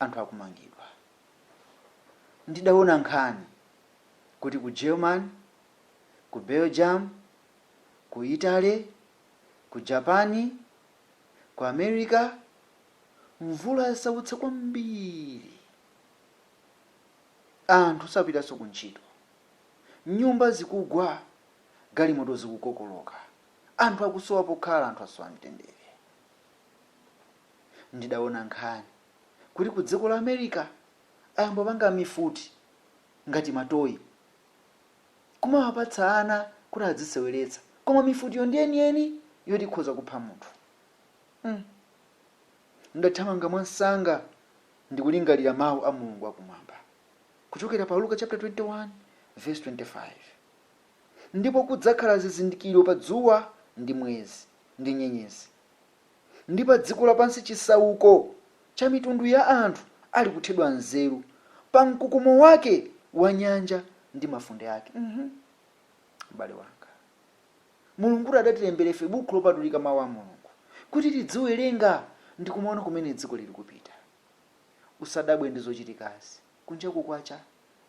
anthu akumangidwa. Ndidaona nkhani kuti ku German, ku Belgium, ku Italy, ku Japan, ku America mvula yasautsa kwambiri. Anthu sapitanso kuntchito. Nyumba zikugwa, galimoto zikukokoloka. Anthu akusowa pokhala, anthu asowa mtendere. ndidaona nkhani kuti ku dziko la America ayamba kupanga mifuti ngati ma toy kumawapatsa ana kuti adziseweretsa koma mifutiyo ndi yeniyeni yoti ikhoza kupha munthu. Hmm. Ndathamanga mwamsanga ndikulingalira mawu a Mulungu akumwamba kuchokera pa Luka chaputala 21 vesi 25 ndipo kudzakhala zizindikiro pa dzuwa ndi mwezi ndi nyenyezi. ndi pa dziko lapansi chisauko cha mitundu ya anthu ali kuthedwa nzeru pa mkukumo wake wa nyanja ndi mafunde ake Mhm. m'bale wanga mulungutu adatilembera ife buku lopatulika mawu a mulungu kuti tidziwerenga ndi kumaona kumene dziko lili kupita usadabwe ndi zochitikazi Kunjaku kwacha,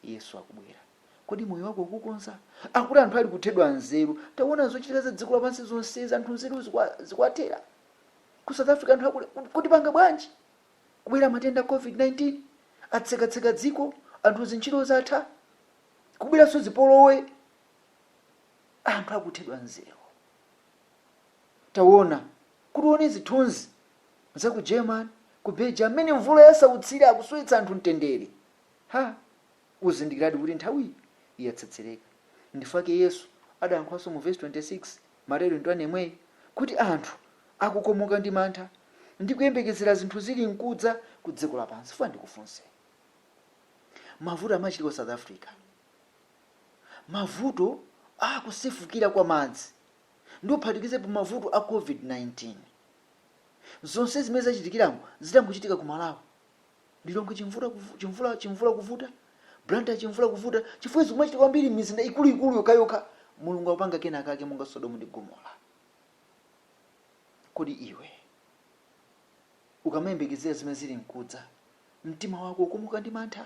Yesu akubwera. Kodi moyo wako ukukonza? Akuti anthu ali kuthedwa nzeru. Tawona zochitika za dziko lapansi zonsezi, anthu nzeru zikuwathera. Ku South Africa anthu akule, kuti panga bwanji? Kubwera matenda COVID-19, atsekatseka dziko, anthu zintchito zatha, kubweranso zipolowe, anthu akuthedwa nzeru. Tawona, kuti uwone zithunzi za ku German, ku Belgium, mmene mvula yasautsira, akusowetsa anthu mtendere. Ha! Uzindikiradi kuti nthawiyi yatsetsereka. Ndifukwa yake Yesu adayankhulanso mu vesi 26, Mateyu 21 yemweyu, kuti anthu akukomoka ndi mantha ndi kuyembekezera zinthu zirinkudza ku dziko lapansi. Funa ndikufunse. Mavuto amachitika ku South Africa. Mavuto a kusefukira kwa madzi ndi ophatikizepo mavuto a COVID-19. Zonsezi zimene zachitikirazo zitangochitika ku Malawi. Lilongwe chimvula kuvuta, Blantyre chimvula kuvuta chifukwa zikumachitika kwambiri m'mizinda ikuluikulu yokhayokha. Mulungu akupanga kenakake monga Sodomu ndi Gomora. Kodi iwe ukamayembekezera zimene zili mkudza, mtima wako ukomoka ndi mantha?